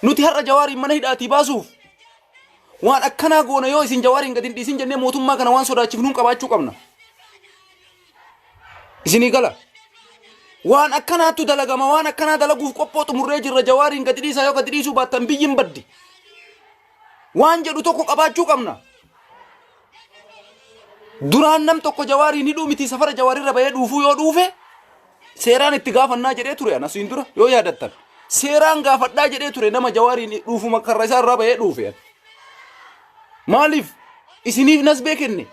Nuti har'a jawaariin mana hidhaatii baasuuf waan akkanaa goona yoo isin jawaariin gadi hin dhiisin jennee mootummaa kana waan sodaachifnuun qabaachuu qabna. Isinii gala. Waan akkanaattu dalagama waan akkanaa dalaguuf qophoo xumurree jirra jawaariin gadi dhiisaa yoo gadi dhiisuu baattan biyyin baddi. waan jedhu tokko qabaachuu qabna. Duraan nam tokko jawaariin hidhuu miti safara jawaarirra bahee dhuufuu yoo dhuufe seeraan itti gaafannaa jedhee ture anas hin dura yoo yaadattan. Seeraan gaafadhaa jedhee ture nama jawaariin dhuufuma karra isaa irraa bahee dhuufe. Maaliif isiniif nasbee kenne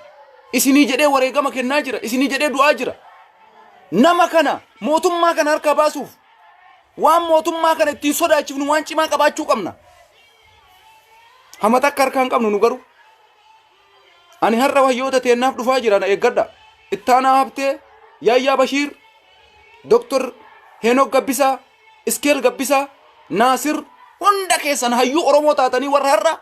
isinii jedhee wareegama kennaa jira isinii jedhee du'aa jira. Nama kana mootummaa kana harkaa baasuuf waan mootummaa kana ittiin sodaachifnu waan cimaa qabaachuu qabna. Hama takka harkaa hin qabnu nu garuu. Ani har'a wayyoota teennaaf dhufaa jira na eeggadha. Ittaanaa Habtee, Yaayyaa Bashiir, Dr. Heenok Gabbisaa, Iskeel Gabbisaa, Naasir hunda keessan hayyuu Oromoo taatanii warra har'a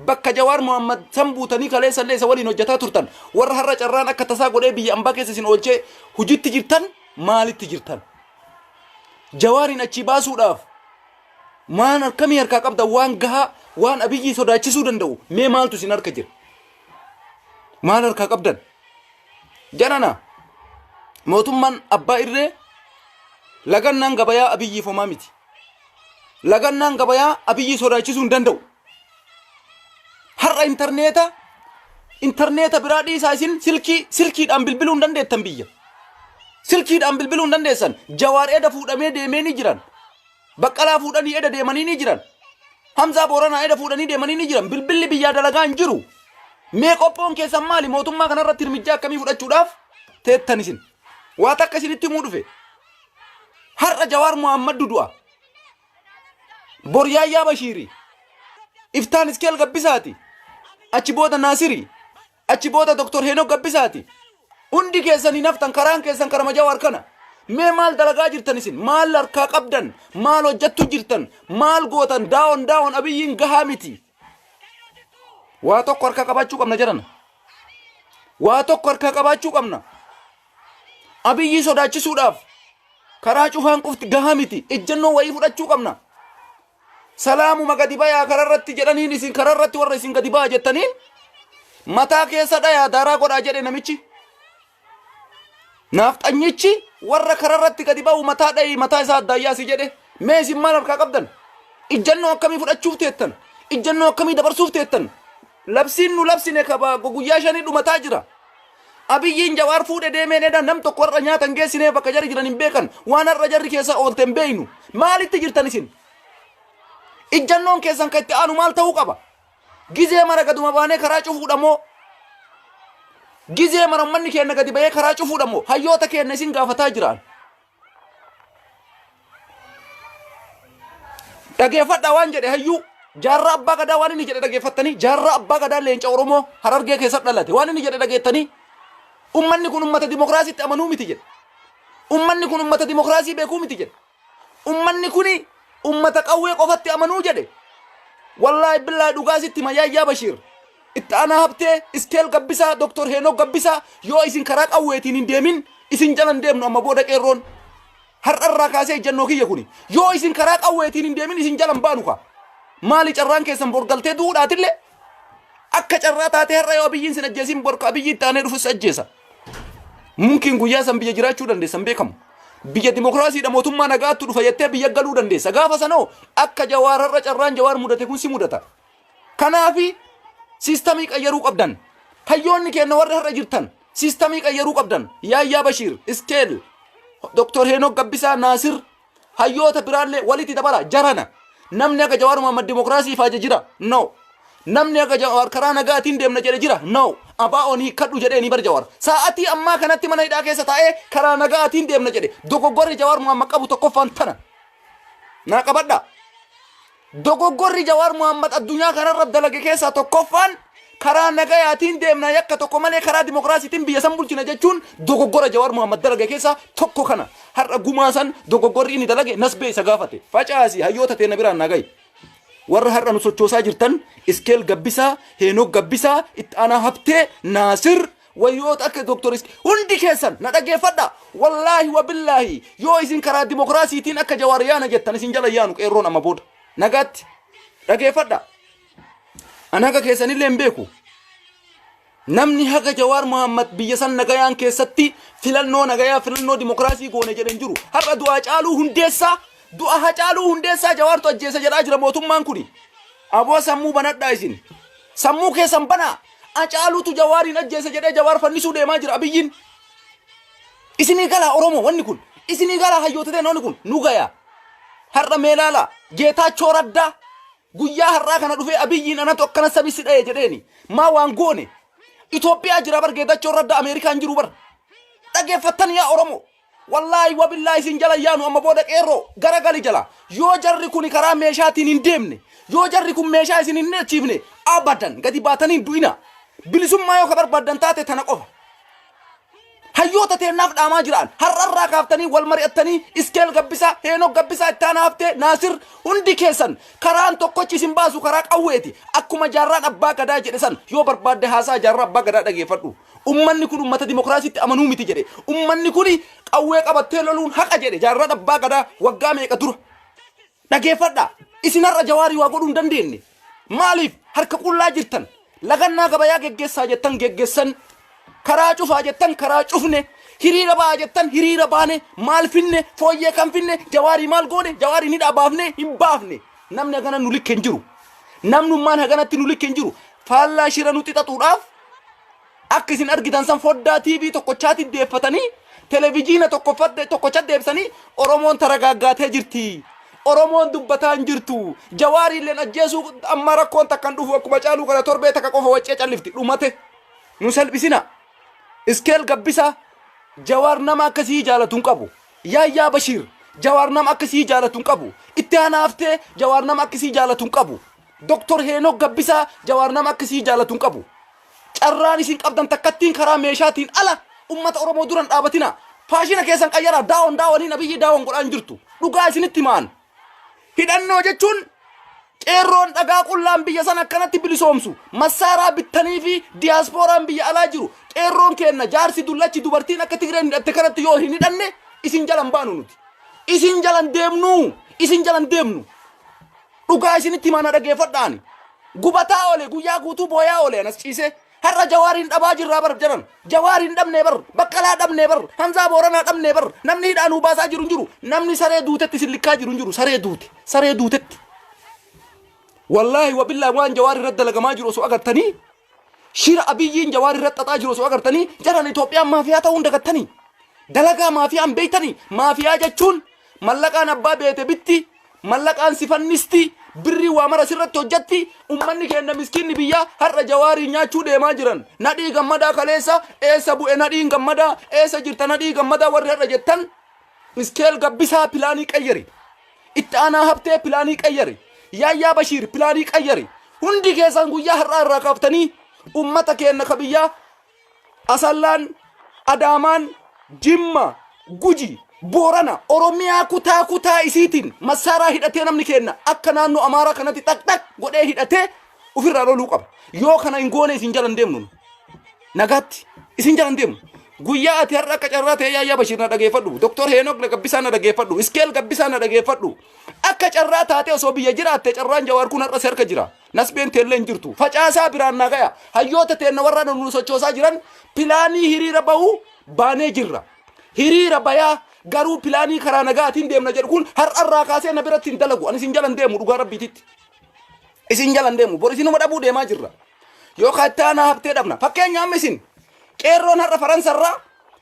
bakka Jawaar Mohaammed san buutanii kaleessa illee isa waliin hojjetaa turtan warra har'a carraan akka tasaa godhee biyya ambaa keessa isin oolchee hojiitti jirtan maalitti jirtan? Jawaariin achii baasuudhaaf Maan akkamii harkaa qabda waan gahaa waan abiyyii sodaachisuu danda'u mee maaltu isin harka jira? Maal harkaa qabdan? Jarana mootummaan abbaa irree lagannaan gabayaa abiyyiif homaa miti. Lagannaan gabayaa abiyyii sodaachisuu hin danda'u. Har'a intarneeta intarneeta biraa dhiisaa isin silkii silkiidhaan bilbiluu hin dandeettan biyya. Silkiidhaan bilbiluu hin dandeessan. Jawaar eda fuudhamee deemee ni jiran. Baqqalaa fuudhanii eda deemanii ni jiran. Hamzaa Booranaa eda fuudhanii deemanii ni jiran. Bilbilli biyyaa dalagaa hin jiru. Mee qophoon keessan maali? Mootummaa kanarratti hirmijjaa akkamii fudhachuudhaaf teettan isin? Waa takka isinitti himuu dhufe. Har'a Jawaar Muhammad du'a. Boryaayyaa Bashiiri. Iftaan Iskeel Gabbisaati. Achi booda Naasiri. Achi booda Dr. Heenok Gabbisaati. Hundi keessan hin haftan karaan keessan karama Jawaar kana. Mee maal dalagaa jirtan isin? Maal harkaa qabdan? Maal hojjattu jirtan? Maal gootan? Daawon daawon abiyyiin gahaa miti. Waa tokko harkaa qabaachuu qabna jedhana. Waa tokko harkaa qabaachuu qabna. Abiyyii sodaachisuudhaaf karaa cufaan qufti gahaa miti. Ejjennoo wayii fudhachuu qabna. Salaamuma gadi bayaa kararratti jedhaniin isin kararratti warra isin gadi baa jettaniin mataa keessa dhayaa daaraa godhaa jedhe namichi. Naafxanyichi warra kararratti gadi ba'u mataa dha'ii mataa isaa addaayyaa si jedhe mee isin maal harkaa qabdan? Ijjannoo akkamii fudhachuuf teettan? Ijjannoo akkamii dabarsuuf teettan? Labsiin nu labsine kaba guyyaa shanii dhumataa jira. Abiyyiin Jawaar fuudhe deemeen eda nam tokko har'a nyaata hin geessinee bakka jarri jiran hin beekan waan har'a jarri keessa oolte hin beeynu maalitti jirtan isin ijjannoon keessan kan itti aanu maal ta'uu qaba gizee mara gaduma baanee karaa cufuudha moo gizee mara ummanni keenya gadi ba'ee karaa cufuudha moo hayyoota keenya isin gaafataa jiraan dhageeffadha waan jedhe hayyuu jaarraa abbaa gadaa waan inni jedhe dhageeffattanii jaarraa abbaa gadaa leenca oromoo harargee keessatti dhalate waan inni jedhe dhageettanii ummanni kun ummata dimokiraasiitti amanuu miti jedhe ummanni kun ummata dimokiraasii beekuu miti jedhe ummanni kun ummata qawwee qofatti amanuu jedhe wallaahi billaahi dhugaa sitti mayyaayyaa bashiir Itti Aanaa Habtee, Iskeel Gabbisaa, Dr. Heenok Gabbisaa, yoo isin karaa qawweetiin hin deemin isin jala hin deemnu amma booda Qeerroon. Har'a irraa kaasee ejjannoo kiyya kuni. Yoo isin karaa qawweetiin hin deemin isin jala hin baanu kaa. Maali carraan keessan bor galtee du'uudhaatille akka carraa taatee har'a yoo Abiyyiin sin ajjeesin bor ka Abiyyii itti aanee dhufus ajjeesa. Mumkiin guyyaa san biyya jiraachuu dandeessa hin beekamu. Biyya dimokiraasiidha mootummaa nagaattu dhufa jettee biyya galuu dandeessa. Gaafa sanoo akka jawaar har'a carraan jawaar mudate kun si mudata. Kanaafi siistamii qayyaruu qabdan. Hayyoonni keenna warri har'a jirtan siistamii qayyaruu qabdan. Yaayyaa Bashiir, Iskeel, Dr. Heenok Gabbisaa, Naasir, hayyoota biraallee walitti dabala jarana. Namni akka Jawaar Mohaammed Dimookiraasii faaje jira? No. Namni akka Jawaar karaa nagaatiin deemna jedhe jira? No. Abaa'oon hiikkadhu jedhee ni bar Jawaar. Sa'atii ammaa kanatti mana hidhaa keessa taa'ee karaa nagaatiin deemna jedhe. Dogoggorri Jawaar Mohaammed qabu tokkoffaan tana. Naa qabadhaa. Dogoggorri Jawaar Mohaammad addunyaa kanarra dalage keessaa tokkoffaan karaa nagayaatiin deemna yakka tokko malee karaa dimokiraasiitiin biyya san bulchina jechuun dogoggora Jawaar Mohaammad dalage keessaa tokko kana. Har'a gumaa san dogoggorri inni dalage nasbee isa gaafate. Facaasi hayyoota teenna biraan naa gahi. Warra har'a nu sochoosaa jirtan Iskeel Gabbisaa, Heenook Gabbisaa, Itti Aanaa Habtee, Naasir, Wayyoota akka Dr. Isk hundi keessan na dhaggeeffadha. Wallaahi wa billaahi yoo isin karaa dimokiraasiitiin akka Jawaar yaana jettan isin jala yaanu qeerroon amma booda. Nagaatti dhaggeeffadha. An haga keessanillee hin beeku. Namni haga Jawaar Muhammad biyya san nagayaan keessatti filannoo nagayaa filannoo dimokiraasii goone jedhe hin jiru. Har'a du'aa caaluu hundeessaa du'a hacaaluu hundeessaa Jawaartu ajjeesa jedhaa jira mootummaan kuni. Aboo sammuu banadhaa isin. Sammuu keessan banaa. Acaaluutu Jawaariin ajjeese jedhee Jawaar fannisuu deemaa jira Abiyyiin. Isinii galaa Oromoo wanni kun. Isinii galaa hayyoota ta'e wanni kun nu gayaa. Har'a mee ilaalaa Geetaachoo Raddaa guyyaa har'aa kana dhufee Abiyyiin anatu akkana sabi si dha'e jedheeni. Maa waan goone. Itoophiyaa jira bar Geetaachoo Raddaa Ameerikaan jiru bar. Dhageeffattan yaa Oromoo. Wallaahi wabillaahi isin jala hin yaanu amma booda qeerroo garagali jala yoo jarri kuni karaa meeshaatiin hin deemne yoo jarri kun meeshaa isin hin hidhachiifne abadan gadi baatanii hin du'ina bilisummaa yoo ka barbaaddan taate tana qofa hayyoota teennaaf dhaamaa jiraan har'arraa kaaftanii wal mari'attanii iskeel gabbisaa heenok gabbisaa ittaan haaftee naasir hundi keessan karaan tokkochi isin baasu karaa qawweeti akkuma jaarraan abbaa gadaa jedhe san yoo barbaadde haasaa jaarraa abbaa gadaa dhageeffadhu Ummanni kun ummata dimokiraasiitti amanuu miti jedhe. Ummanni kun qawwee qabattee loluun haqa jedhe jaarraan abbaa gadaa waggaa meeqa dura. Dhageeffadhaa! Isin har'a Jawaarii waa godhuu hin dandeenye. Maaliif harka qullaa jirtan? Lagannaa gabayaa geggeessaa jettan geggessan. Karaa cufaa jettan karaa cufne. Hiriira ba'aa jettan hiriira baane. Maal finne? Fooyyee kan finne? Jawaarii maal goone? Jawaarii ni dhaabaafne? Hin baafne. Namni hagana nu likke hin jiru. Namnummaan haganatti nu likke hin jiru. Faallaa shira nutti xaxuudhaaf Akka isin argitan san foddaa TV tokkochaatti deeffatanii televijiina tokkoffadde tokkocha deebisanii Oromoon taragaaggaatee jirti. Oromoon dubbataa hin jirtu. Jawaari illeen ajjeesuu amma rakkoon takka hin dhufu akkuma caaluu kana torbee takka qofa waccee callifti dhumate. Nu salphisina. Iskeel gabbisa jawaar nama akkasii jaalatu hin qabu. Yaayyaa Bashiir jawaar nama akkasii jaalatu hin qabu. Itti aanaa haftee jawaar nama akkasii jaalatu hin qabu. Doktor Heenok Gabbisaa Jawaar nama akka isii jaalatu hin qabu. Carraan isin qabdan takkattiin karaa meeshaatiin ala ummata Oromoo dura hin dhaabatina. Faashina keessan qayyaraa daawon daawoniin abiyyi daawon godhaa hin jirtu. Dhugaa isinitti himaan. Hidhannoo jechuun qeerroon dhagaa qullaan biyya san akkanatti bilisoomsu massaaraa bittanii fi diyaaspooraan biyya alaa jiru qeerroon keenna jaarsi dullachi dubartiin akka tigreen hidhatte kanatti yoo hin hidhanne isin jalan baanu nuti. Isin jalan deemnu isin jalan deemnu. Dhugaa isinitti himaa na dhageeffadha ani. Gubataa oole guyyaa guutuu booyaa oole anas ciisee. Har'a jawaariin dhabaa jirraa bar jaran. Jawaariin dhabnee bar. Baqqalaa dhabnee bar. Hamzaa booranaa dhabnee bar. Namni hidhaa nuu baasaa jiru hin jiru. Namni saree duutetti isin likkaa jiru hin jiru. Saree duute. Saree duutetti. Wallaahi wabillaahi waan jawaar irratti dalagamaa jiru osoo agartanii Shira Abiyyiin Jawaar irratti xaxaa jiru osoo agartanii jaran Itoophiyaan maafiyaa ta'uu hin dagattanii. Dalagaa maafiyaa hin beektanii. Maafiyaa jechuun mallaqaan abbaa beete bitti, mallaqaan si fannisti, birrii waa mara sirratti hojjetti, ummanni keenya miskiinni biyyaa har'a Jawaariin nyaachuu deemaa jiran. Nadhii gammadaa kaleessa eessa bu'e nadhiin gammadaa eessa jirta nadhii gammadaa warri har'a jettan Iskeel Gabbisaa pilaanii qayyari. Itti aanaa habtee pilaanii qayyari. Yaayyaa Bashiir pilaanii qayyari. Hundi keessan guyyaa har'aa irraa kaaftanii ummata keenna ka biyyaa Asallaan, Adaamaan, Jimma, Guji, Boorana, Oromiyaa kutaa kutaa isiitiin massaaraa hidhatee namni keenna akka naannoo Amaaraa kanatti xaqxaq godhee hidhatee Ofirraa loluu qaba. Yoo kana hin goone isin jala hin deemnu. nu. Nagaatti isin jala hin deemnu. Guyyaa ati har'a akka carraa ta'ee yaayyaa Bashiir na dhageeffadhu. Doktor Heenok na gabbisaa na dhageeffadhu. Iskeel gabbisaa na dhageeffadhu. Akka carraa taatee osoo biyya jiraatte carraan jawaar kun har'a si harka jira. Nasbeen teellee hin jirtu. Facaasaa biraan naa gaya. Hayyoota teenna warra nu sochoosaa jiran pilaanii hiriira bahuu baanee jirra. hiriira bayaa garuu pilaanii karaa nagaatiin deemna jedhu kun har'arraa kaasee na biratti hin dalagu ani isin jala hin deemu dhugaa rabbiititti Isin jalan deemu. Bor isinuma dhabuu deemaa jirra. Yookaan itti aanaa habtee dhabna. Fakkeenya amma isin qeerroon har'a Faransarraa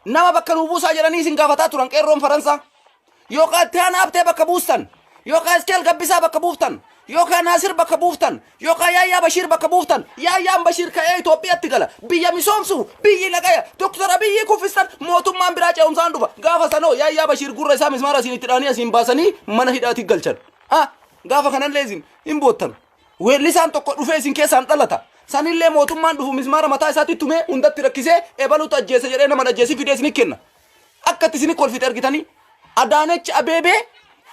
nama bakka nuu buusaa jedhanii isin gaafataa turan qeerroon Faransaa. Yookaan itti aanaa habtee bakka buustan. Yookaan Iskeel Gabbisaa bakka buuftan. Yookaan Naasir bakka buuftan. Yookaan Yaayyaa Bashiir bakka buuftan. Yaayyaan Bashiir ka'ee Itoophiyaatti gala. Biyya misoomsuuf biyyi nagaya. Doktar Abiyyii kuffistan mootummaan biraa ce'umsaan dhufa. Gaafa sanoo Yaayyaa Bashiir gurra isaa mismaara asiin itti dhaanii asiin baasanii mana hidhaatti galchan. Ha! Gaafa kanallee isin hin boottan. Weellisaan tokko dhufee isin keessaan dhalata. Sanillee mootummaan dhufu mismaara mataa isaatti tumee hundatti rakkisee ebalutu ajjeese jedhee nama ajjeesii fidee isin kenna. Akkatti isin kolfite argitanii Adaanech Abeebee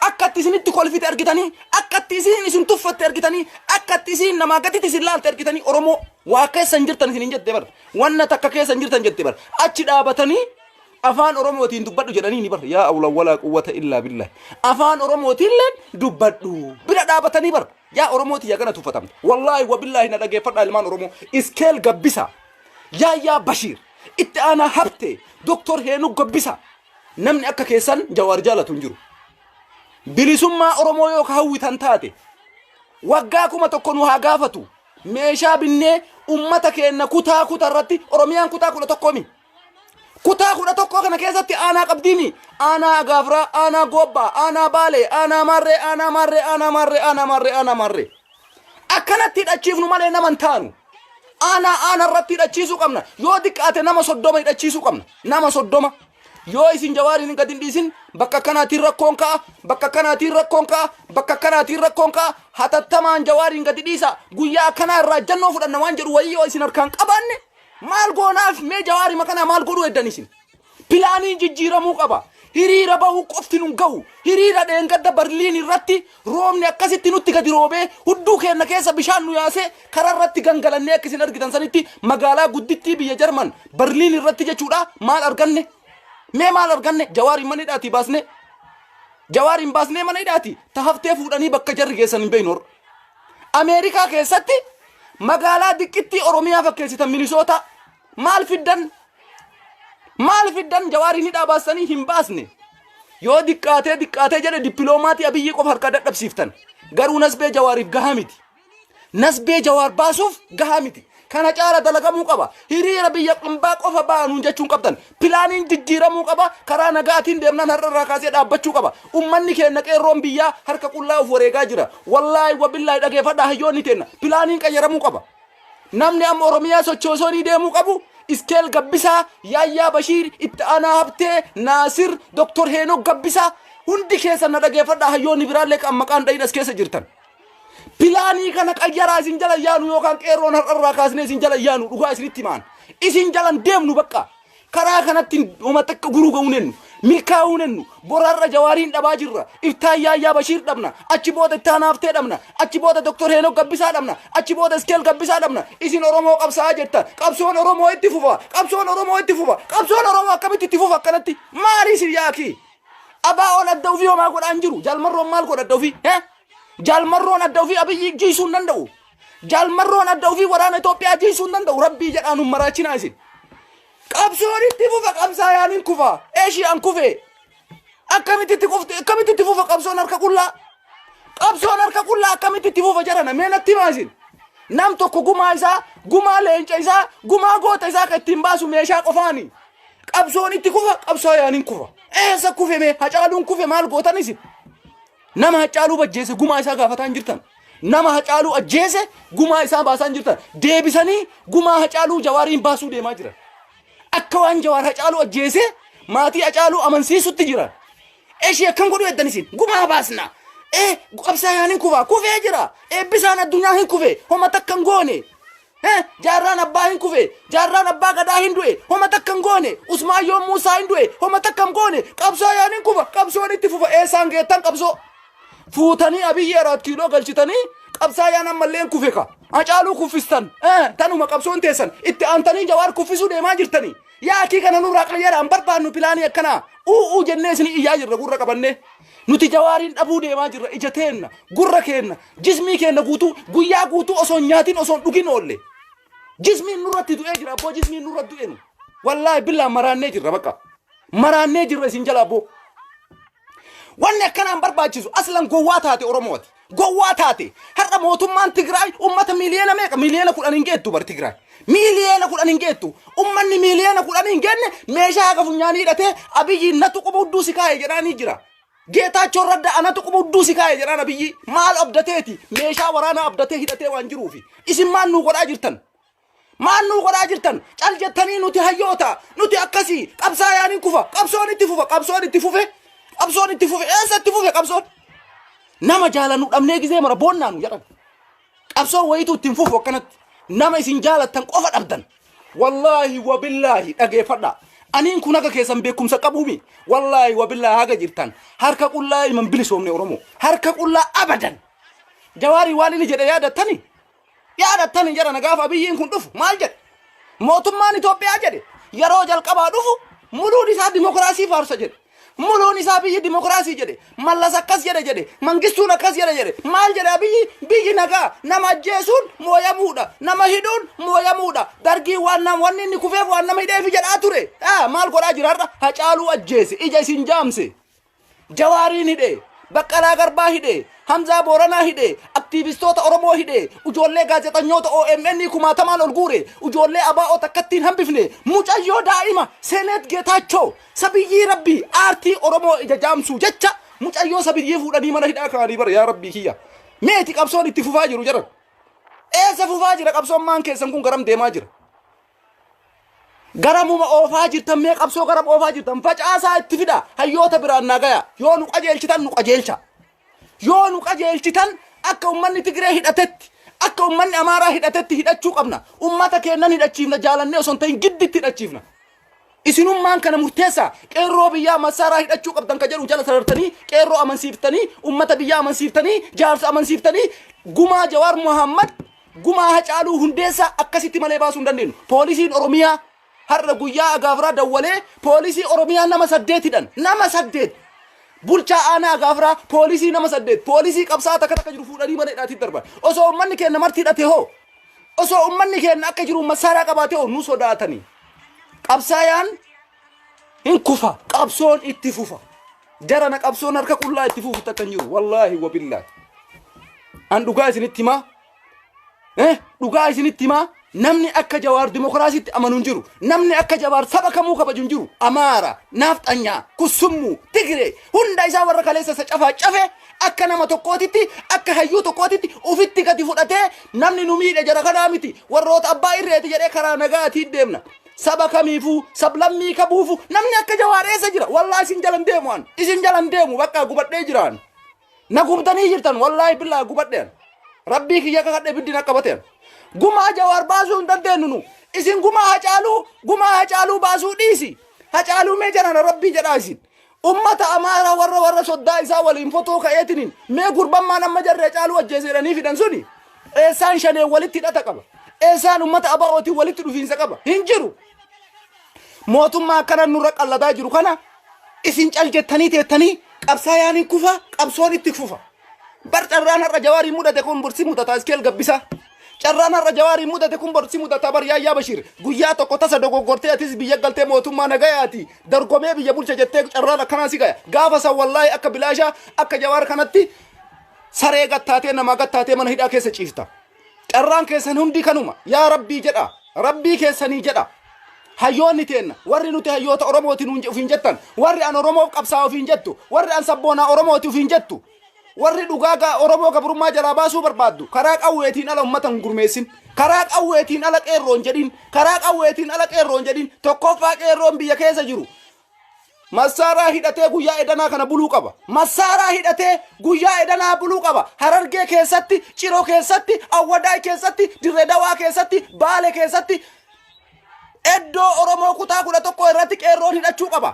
akkatti isinitti kolfite argitanii akkatti isin isin tuffatte argitanii akkatti isin namaa gaditti isin laalte argitanii Oromoo waa keessa hin jirtan isin hin jette bar wanna takka keessa hin jirtan jette bar achi dhaabatanii Afaan Oromootiin dubbadhu jedhaniini bar yaa awla walaa quwwata illaa billahi. Afaan Oromootiilleen dubbadhu bira dhaabatanii bar yaa Oromooti yaa gana tuffatamta. Wallaahi wabillaahi na dhageeffadhaa ilmaan Oromoo iskeel gabbisaa. Yaayyaa Bashiir itti aanaa habtee Doktor Heenuu gabbisaa. Namni akka keessan jawaar jaalatu hin jiru. Bilisummaa Oromoo yoo ka hawwitan taate waggaa kuma tokko nu haa gaafatu. Meeshaa binnee ummata keenna kutaa kutaa irratti Oromiyaan kutaa kudha tokkoomi. Kutaa kudha tokkoo kana keessatti aanaa qabdiini. Aanaa Agaafraa, aanaa Goobbaa, aanaa Baalee, aanaa Maarree, aanaa Maarree, aanaa Maarree, aanaa Maarree, aanaa Maarree. Akkanatti hidhachiifnu malee nama hin taanu. Aanaa aanaa irratti hidhachiisuu qabna. Yoo xiqqaate nama soddoma hidhachiisuu qabna. Nama soddoma. Yoo isin jawaariin gad hin dhiisin bakka kanaatiin rakkoon ka'a, bakka kanaatiin rakkoon ka'a, bakka kanaatiin rakkoon ka'a, hatattamaan jawaariin gadi dhiisa. Guyyaa akkanaa irraa jannoo fudhanna waan jedhu wayii yoo isin harkaan qabaanne Maal goonaaf mee jawaarima kanaa maal godhuu eddan isin? Pilaaniin jijjiiramuu qaba. Hiriira bahuu qofti nun gahu. Hiriira dheengadda Barliin irratti roobni akkasitti nutti gadi roobee hudduu keenna keessa bishaan nu yaasee karaa irratti gangalannee akka isin argitan sanitti magaalaa guddittii biyya Jarman Barliin irratti jechuudha maal arganne? Mee maal arganne? Jawaariin mana hidhaatii baasnee. Jawaariin baasnee mana hidhaatii ta haftee fuudhanii bakka jarri geessan hin beeknu. Ameerikaa keessatti magaalaa diqqittii Oromiyaa fakkeessitan Minisootaa maal fiddan? Maal fiddan jawaariin hidhaa baastanii hin baasne? Yoo diqqaatee diqqaatee jedhe dippiloomaatii abiyyii qofa harkaa dadhabsiiftan. Garuu nasbee jawaariif gahaa miti. Nasbee jawaar baasuuf gahaa miti. Kana caala dalagamuu qaba. Hiriira biyya ambaa qofa ba'a nuun jechuun qabdan. Pilaaniin jijjiiramuu qaba. Karaa nagaatiin deemnaan har'a irraa kaasee dhaabbachuu qaba. Ummanni keenna qeerroon biyyaa harka qullaa of wareegaa jira. Wallaahi wabillaahi dhageefadhaa hayyoonni teenna. Pilaaniin qayyaramuu qaba. Namni amma Oromiyaa sochoosoonii deemuu qabu Iskeel Gabbisaa, Yaayyaa Bashiir, Itti Aanaa Habtee, Naasir, Doktor Heenok Gabbisaa hundi keessa na dhageefadhaa hayyoonni biraallee kan maqaan dhayin as keessa jirtan. Pilaanii kana qayyaraa isin jala yaanu yookaan qeerroon har'arraa kaasnee isin jala yaanu dhugaa isinitti himaan. Isin jalan deemnu bakka. Karaa kanatti homa takka guruu ga'uu nennu. Milkaa'uu nennu. Boraarra jawaariin dhabaa jirra. Iftaan yaayyaa Bashiir dhabna. Achi booda ittaan haaftee dhabna. Achi booda Dr. Heenok Gabbisaa dhabna. Achi booda Iskeel Gabbisaa dhabna. Isin Oromoo qabsaa'aa jirta. Qabsoon Oromoo itti fufa. Qabsoon Oromoo itti fufa. Qabsoon Oromoo akkamitti itti fufa akkanatti? Maali isin yaakii? Abaa ol adda ofii homaa godhaan jiru. Jaalmarroon maal godhadda ofii? Hee? Jaal marroon adda ofii abiyyi jiisuu hin danda'u. Jaal marroon adda ofii waraana Itoophiyaa jiisuu hin danda'u. Rabbii jedhaan hin maraachinaa isin. Qabsoon itti fufa qabsaayaan hin kufa. Eeshiyaan kufee. Akkamitti itti kufti? Akkamitti itti fufa qabsoon harka qullaa? Qabsoon harka qullaa akkamitti itti fufa jedhana? Mee natti himaa isin. Nam tokko gumaa isaa, gumaa leenca isaa, gumaa goota isaa kan ittiin baasu meeshaa qofaani. Qabsoon itti kufa qabsaayaan hin kufa. Eessa kufe mee? Hacaaluun kufe maal gootan isin? Nama Hacaaluu bajjeese gumaa isaa gaafataa hin jirtan. Nama Hacaaluu ajjeese gumaa isaa baasaa hin jirtan. Deebisanii gumaa Hacaaluu Jawaariin baasuu deemaa jiran. Akka waan Jawaar Hacaaluu ajjeese maatii Hacaaluu amansiisutti jiran. Eshii akkam godhu eddan isin gumaa baasna. Ee qabsaayaan hin kufaa kufee jira. Eebbisaan addunyaa hin kufee homa takka hin goone. Hee, jaarraan abbaa hin kufe, jaarraan abbaa gadaa hin du'e, homa takka hin goone, Usmaan yoom Muusaa hin du'e, homa takka hin goone, qabsoo yoon hin kufa, qabsoon itti fufa, eessaan geettan qabsoo? Fuutanii abiyyi araat kiiloo galchitanii qabsaa yaan ammallee hin kufe ka. Hacaaluu kuffistan, eh, tanuma qabsoon teessan, itti aantanii jawaar kuffisuu deemaa jirtanii. Yaakii kana nurraa qayyara, hin barbaannu pilaanii akkanaa. U'uu jennee isinii iyyaa jirra gurra qabannee. Nuti jawaariin dhabuu deemaa jirra ija teenna, gurra keenna, jismii keenna guutuu guyyaa guutuu osoo hin nyaatin osoo hin dhugin oolle. Jismiin nurratti du'ee jira abboo jismiin nurratti du'e nu. Wallaahi billaa maraannee jirra bakka. Maraannee jirra isin jala abboo. Wanni akkanaan barbaachisu aslan gowwaa taate Oromoo ati. Gowwaa taate har'a mootummaan Tigraay ummata miiliyoona meeqa miiliyoona kudhan hin geettu bar Tigraay miiliyoona kudhan hin geettu ummanni miiliyoona kudhan hin geenne meeshaa haga funyaanii hidhatee abiyyiin natu quba hudduu si kaa'e jedhaanii jira. Geetaachoon radda anatu quba hudduu si kaa'e jedhaan abiyyi maal abdateeti meeshaa waraanaa abdatee hidhatee waan jiruufi isin maal nuu godhaa jirtan Maal nuu godhaa jirtan? Cal jettanii nuti hayyoota, nuti akkasii, qabsaayaan hin kufa, qabsoon itti fufa, qabsoon itti fufe, qabsoon itti fufe, eessa itti fufe qabsoon? Nama jaalannu dhabnee gisee mara boonnaa nu jedhan. Qabsoon wayituu ittiin fufu akkanatti. Nama isin jaalattan qofa dhabdan. Wallaahi wabillaahi dhageeffadha. Aniin kun haga keessan beekumsa qabuumi. Wallaahi wabillaahi haga jirtan. Harka qullaa ilman bilisoomne Oromoo. Harka qullaa abadan. Jawaarii waan inni jedhe yaadattanii? Yaadattan hin jedhana gaafa abiyyiin kun dhufu maal jedhe? Mootummaan Itoophiyaa jedhe yeroo jalqabaa dhufu muluun isaa dimokiraasii faarsa jedhe. Muluun isaa biyyi dimokiraasii jedhe. Mallas akkas jedhe jedhe. Mangistuun akkas jedhe jedhe. Maal jedhe abiyyi biyyi nagaa nama ajjeesuun mooyamuudha. Nama hidhuun mooyamuudha. Dargiin waan nam wanni inni kufeef waan nama hidheefi jedhaa ture. Ah, maal godhaa jira har'a? Hacaaluu ajjeese. Ija isin jaamse. Jawaariin hidhe, Baqqalaa Garbaa hidhe, Hamzaa Booranaa hidhe, aktiivistoota Oromoo hidhe, ujoollee gaazexanyoota OMN kumaatamaan ol guure, ujoollee ABO takkatti hin hambifne, mucayyoo daa'ima Seeneet Geetaachoo sabiyyii rabbii aartii Oromoo ija jaamsuu jecha mucayyoo sabiyyii fuudhanii mana hidhaa kaa'anii bara yaa rabbii kiyya. Meeti qabsoon itti fufaa jiru jaran. Eessa fufaa jira qabsoon maan keessan kun garam deemaa jira. garamuma oofaa jirtan mee qabsoo garam oofaa jirtan facaasaa itti fida hayyoota biraan naa gaya yoo nu qajeelchitan nu qajeelcha yoo nu qajeelchitan akka ummanni Tigree hidhatetti akka ummanni Amaaraa hidhatetti hidhachuu qabna ummata keennan hidhachiifna jaalannee osoo hin ta'in gidditti hidhachiifna Isinummaan kana murteessa. Qeerroo biyyaa massaaraa hidhachuu qabdan ka jedhu jala sarartanii qeerroo amansiiftanii ummata biyyaa amansiiftanii jaarsa amansiiftanii gumaa Jawaar Muhammad gumaa Hacaaluu Hundeessaa akkasitti malee baasuu hin dandeenyu. Poolisiin Oromiyaa har'a guyyaa agaafiraa dawwalee poolisii Oromiyaa nama saddeetidhan nama saddeet bulchaa aanaa agaafiraa poolisii nama saddeet poolisii qabsaa takka takka jiru fuudhanii mana hidhaatiif darban osoo ummanni keenya marti hidhate hoo Osoo ummanni keenya akka jiru masaaraa qabaatee nu sodaatanii. Qabsaayaan hin kufa. Qabsoon itti fufa. Jarana qabsoon harka qullaa itti fufu takka hin jiru. Wallaahi wabillaahi. An dhugaa isinitti himaa. Eh, dhugaa isinitti himaa. Namni akka jawaar dimokiraasiitti amanu hin jiru. Namni akka jawaar saba kamuu kabaju hin jiru. Amaara, naafxanyaa, kusummuu, tigiree hunda isaa warra kaleessa isa cafaa cafe Akka nama tokkootitti, akka hayyuu tokkootitti ufitti gadi fudhatee namni nu miidhe jara kanaa miti, warroota abbaa irreeti jedhee karaa nagaatiin deemna. Saba kamiifuu, sablammii kabuufu namni akka jawaar eessa jira? Wallaahi isin jalan deemu an. Isin jalan deemu bakka gubadhee jiraan. Na gubdanii jirtan wallaahi billaa gubadheen. Rabbii kiyya kakadhe ibiddi na qabateen. Gumaa jawaar baasuu hin dandeenyu nu. Isin gumaa hacaaluu, gumaa hacaaluu baasuu dhiisi. Hacaaluu mee jarana rabbii jedhaa isin. Ummata Amaaraa warra warra soddaa isaa waliin fotoo ka'eetiniin mee gurban maan amma jarri Hacaaluu ajjeese jedhanii fidan suni eessaan shaneen walitti hidhata qaba? Eessaan ummata ABOtiin walitti dhufiinsa qaba? Hin jiru. Mootummaa akkana nurra qalladaa jiru kana isin cal jettanii teettanii qabsaayaan hin kufa qabsoon itti fufa. Bar carraan har'a jawaariin mudate kun bursi mudataa iskeel gabbisaa. Carraan har'a Jawaariin mudate kun bor si mudata bar Yaayyaa Bashiir. Guyyaa tokko tasa dogoggortee atis biyya galtee mootummaa nagayaati. Dorgomee biyya bulcha jettee carraan akkanaa si gaya. Gaafa san wallaahi akka bilaashaa akka Jawaar kanatti saree gattaatee namaa gattaatee mana hidhaa keessa ciifta. Carraan keessan hundi kanuma. Yaa Rabbii jedha. Rabbii keessanii jedha. Hayyoonni teenna warri nuti hayyoota Oromooti nuun ofiin jettan warri an Oromoof qabsaa ofiin jettu warri an sabboonaa Oromooti ofiin jettu Warri dhugaa gaa Oromoo gabrummaa jalaa baasuu barbaaddu karaa qawweetiin ala ummata hin gurmeessin. Karaa qawweetiin ala qeerroo hin jedhin. Karaa qawweetiin ala qeerroo hin jedhin. Tokkoffaa qeerroon biyya keessa jiru massaaraa hidhatee guyyaa edanaa kana buluu qaba. Massaaraa hidhatee guyyaa edanaa buluu qaba. Harargee keessatti, Ciroo keessatti, Awwadaay keessatti, Dirree Dawaa keessatti, Baale keessatti iddoo Oromoo kutaa kudha tokko irratti qeerroon hidhachuu qaba.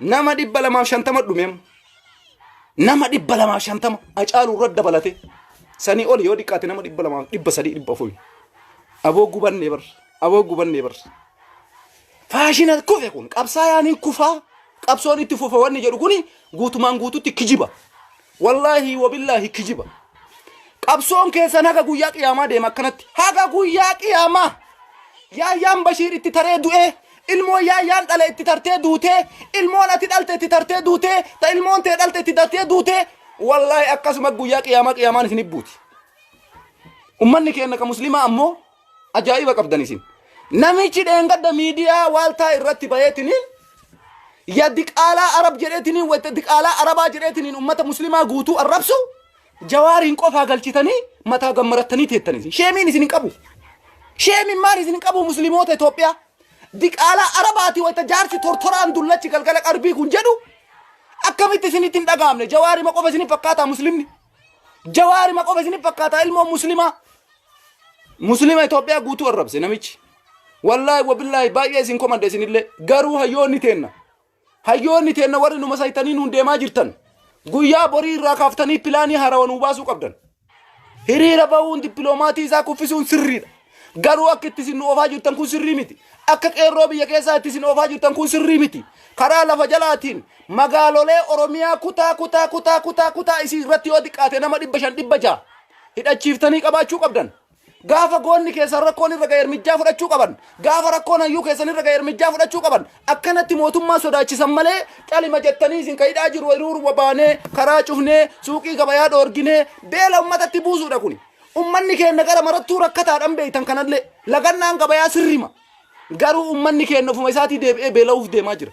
Nama dhibba lamaaf shantama dhume amma. Nama dhibba lamaaf shantama acaaluu irra dabalate. Sanii ol yoo xiqqaate nama dhibba lamaaf dhibba sadii dhibba afuri. Aboo gubannee bar. Aboo gubannee bar. Faashina kufe kun qabsaayaan hin kufaa. Qabsoon itti fufa wanni jedhu kuni guutumaan guututti kijiba. Wallaahi wabillaahi kijiba. Qabsoon keessan haga guyyaa qiyaamaa deema akkanatti. Haga guyyaa qiyaamaa. Yaayyaan Bashiir itti taree du'ee. Ilmoo yaayyaan dhale itti tartee duutee. Ilmoon ati dhalte itti tartee duutee. Ta ilmoon tee dhalte itti tartee duutee. Wallaahi akkasuma guyyaa qiyaamaa qiyaamaan isin ibbuuti. Ummanni keenya ka muslimaa ammoo Ajaa'iba qabdan isin. Namichi dheengadda miidiyaa waaltaa irratti bayeetiniin ya diqaalaa arab jedheetiniin wayita diqaalaa arabaa jedheetiniin ummata muslimaa guutuu arrabsu jawaariin qofaa galchitanii mataa gammarattanii teettan isin. Sheemiin isin hin qabu. Sheemiin maal isin hin qabu muslimoota Itoophiyaa. Diqaalaa arabaati wayita jaarsi tortoraan dullachi galgala qarbii kun jedhu akkamitti isinitti hin dhagahamne jawaarima qofa isin hin fakkaataa muslimni. Jawaari maqofa isin fakkaata ilmoo muslimaa. Muslima Itoophiyaa guutuu arrabse namichi. Wallaahi wabillaahi baay'ee isin komadde isinillee garuu hayyoonni teenna. Hayyoonni teenna warri numa saytanii nuun deemaa jirtan. Guyyaa borii irraa kaaftanii pilaanii haarawaa nuu baasuu qabdan. Hiriira bahuun dippiloomaatii isaa kuffisuun sirriidha. Garuu akka itti isin nu oofaa jirtan kun sirrii miti. Akka qeerroo biyya keessaa itti isin oofaa jirtan kun sirrii miti. Karaa lafa jalaatiin magaalolee Oromiyaa kutaa kutaa kutaa kutaa kutaa isii irratti yoo xiqqaate nama dhibba shan dhibba ja'a hidhachiiftanii qabaachuu qabdan. Gaafa goonni keessan rakkoon irra ga'e ermijjaa fudhachuu qaban. Gaafa rakkoon hayyuu keessan irra ga'e ermijjaa fudhachuu qaban. Akkanatti mootummaa sodaachisan malee calima jettanii isin kan hidhaa jiru hiriiruma baanee karaa cufnee suuqii gabayaa dhoorginee beela ummatatti buusuudha kuni. Ummanni keenna gara marattuu rakkataadhan beeytan kanallee lagannaan gabayaa sirrima. Garuu ummanni keenna ofuma isaatii deebi'ee beela'uuf deemaa jira.